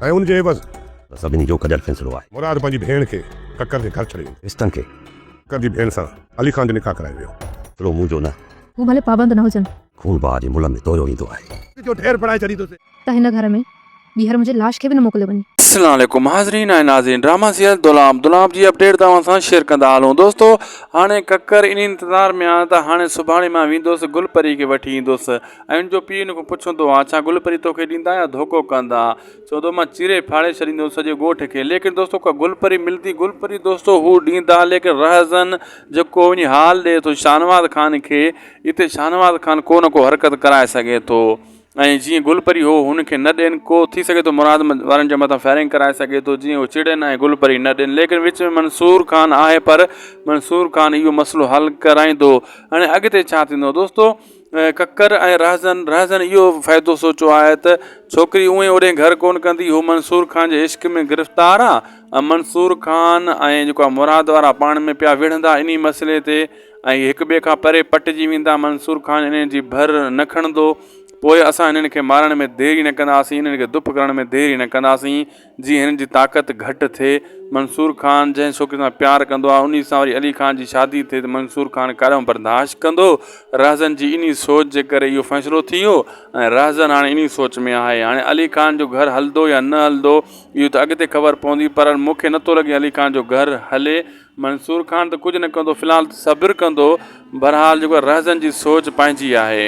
۽ ان جي عيوض. سڀني جو گڏيل فيصلو آهي. مراد پنهنجي ڀيڻ کي ڪڪر جي گهر ڇڏي ويندو. رشتن کي. ڪڪر جي ڀيڻ سان علي خان جو نڪاح ڪرايو ويو. سلو منهنجو نه. هو ڀلي پابند نه هجن. خون باهه جي ملهه ۾ ڌويو ويندو آهي. جو ڍير بڻائي ڇڏيندوسين. ته هن گهر ۾ ٻيهر منهنجي لاش کي به نه موڪليو وڃي. السلام عليڪم ناظرين ۽ ناظرين ڊراما سيريل دولاب دولاب جي اپڊيٽ توهان سان شيئر ڪندا هلون دوستو هاڻي ڪڪر ان انتظار ۾ آهيان ته هاڻي سڀاڻي مان ويندوس گل پري کي وٺي ايندوس. ۽ ان جو پيء ان کان پڇندو هو ڇا گل پري توکي ڏيندا يا ڌوڪو ڪندا؟ چوندو مان چيري ڦاڙي ڇڏيندوس سڄي ڳوٺ کي. ليڪن دوستو ڪا گل پري ملندي؟ گل پري دوستو هو ڏيندا ليڪن رهزن جيڪو وڃي حال ڏئي ٿو شاهنواز خان کي اتي شاهنواز خان ڪو نه ڪو حرڪت ڪرائي سگهي ٿو ۽ جيئن گل پري هو هن کي نه ڏين ڪو ٿي سگهي ٿو مراد وارن جي مٿان فائرنگ ڪرائي سگهي ٿو جيئن هو چڙين ۽ گل پري نه ڏين ليڪن وچ ۾ منصور خان آهي پر منصور خان اهو مسئلو حل ڪرائيندو هاڻي اڳتي ڇا ٿيندو دوستو ڪڪر ۽ رهزن رهزن اهو فائدو سوچيو آهي ته ڇوڪري اونهي اوڏهين گهر ڪونه ڪندي هو منصور خان جي عشق ۾ گرفتار آهي ۽ منصور خان ۽ جيڪو آهي مراد وارا پاڻ ۾ پيا وڙهندا انهي مسئلي تي ۽ هڪ ٻئي کان پري پٽجي ويندا منصور خان انهن جي ڀر نه کڻندو پوء اسان هنن کي مارڻ ۾ ديري نه ڪنداسين هنن کي دڦ ڪرڻ ۾ ديري نه ڪنداسين جي هن جي طاقت گهٽ ٿئي. منصور خان جنهن ڇوڪري سان پيار ڪندو آهي انهي سان وري علي خان جي شادي ٿئي ته منصور خان ڪڏهن برداشت ڪندو؟ رهزن جي انهي سوچ جي ڪري اهو فيصلو ٿي ويو ۽ رهزن هاڻي انهي سوچ ۾ آهي. هاڻي علي خان جو گهر هلندو يا نه هلندو اهو ته اڳتي خبر پوندي پر مون کي نٿو لڳي علي خان جو گهر هلي. منصور خان ته ڪجهه نه ڪندو في الحال ته صبر ڪندو. بهرحال جيڪو رهزن جي سوچ پنهنجي آهي.